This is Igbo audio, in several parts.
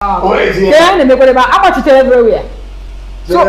ka ya na-emekwara ebe agbachitere everywhere so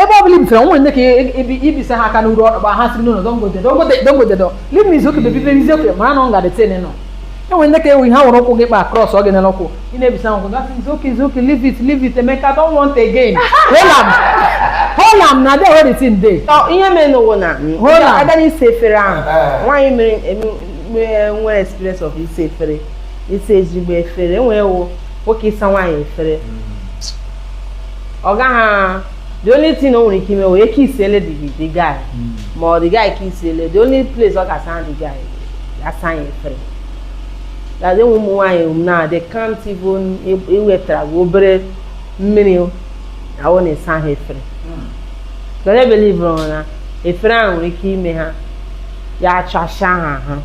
ebe ọ bụla i bisara nwere ndị ka ibisa ha aka n'uru ọkpa ha siri n'ụlọ don't go there don't go there leave me it's okay baby baby it's okay mara na ọ ga-adị tene nọ enwere ndị ka ewu ihe ha nwere ụkwụ gị kpa krọs ọ gị nere ụkwụ ị na-ebisa n'ụkwụ ga-asị it's okay it's okay leave it leave it Emeka don't want again hold am hold am na adị ewere tin dey ihe mere n'ụwa na Hola. a gaa n'ịsa efere ahụ nwaanyị mere nwere experience of ịsa efere ịsa ezigbo efere enwee ụmụ nwoke ịsa nwaanyị efere ọ gaghị the only thing o nwere ike ime wee ka isiele dị gị the guy ma ọ the guy ka isiele the only place ọ ga-asa the guy asa ya efere gazi enwe ụmụ nwaanyị um, na they can't even iwetara gị obere mmiri ahụ na-esa ha efere cos they believuru na efere ahụ nwere ike ime ha ya achasịa ha ahụ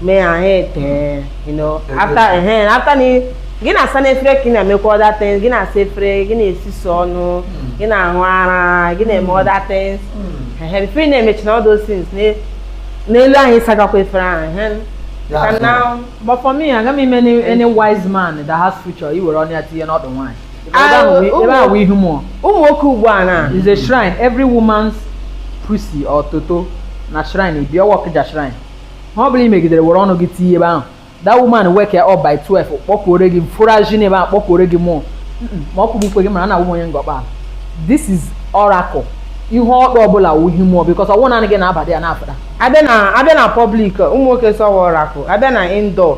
mee ha ha ete you know after ehe after na ị- gị na-asa n'efere ka ị na-emekwa other things gị na-asa efere gị na-esusu ọnụ gị na-aṅụ ara gị na-eme other things ehe before ị na-emechi na all those things na- n'elu ahụ ị sagakwa efere ahụ ehe Ya Ka ahụ. now But for me, agaghị m eme any, any wise man that has future iwere ọnụ ya tinye n'ọdụ nwaanyị. Ah, ebe ụmụ- ahụ wụ ihu mmụọ ụmụ nwoke ugbu a na is a shrine every woman's pussy or toto na shrine e be ọ wụ Ọkịja shrine ihe ọ bụla ị megidere were ọnụ gị tinye ebe ahụ that woman wake up by 12 kpọkuore gị fụraji n'ebe ahụ kpọkuore gị mmụọ Mm-mm, ma ọ kụgbukwe gị mana a na-awụ onye ngọkpa ahụ. this is oracle ihu ọdụ ọbụla wụ ihu mmụọ because ọ wụ naanị gị na-abadị ya na-afụda abịa na abịa na public ụmụ nwoke sọwa oracle a bịa na indoor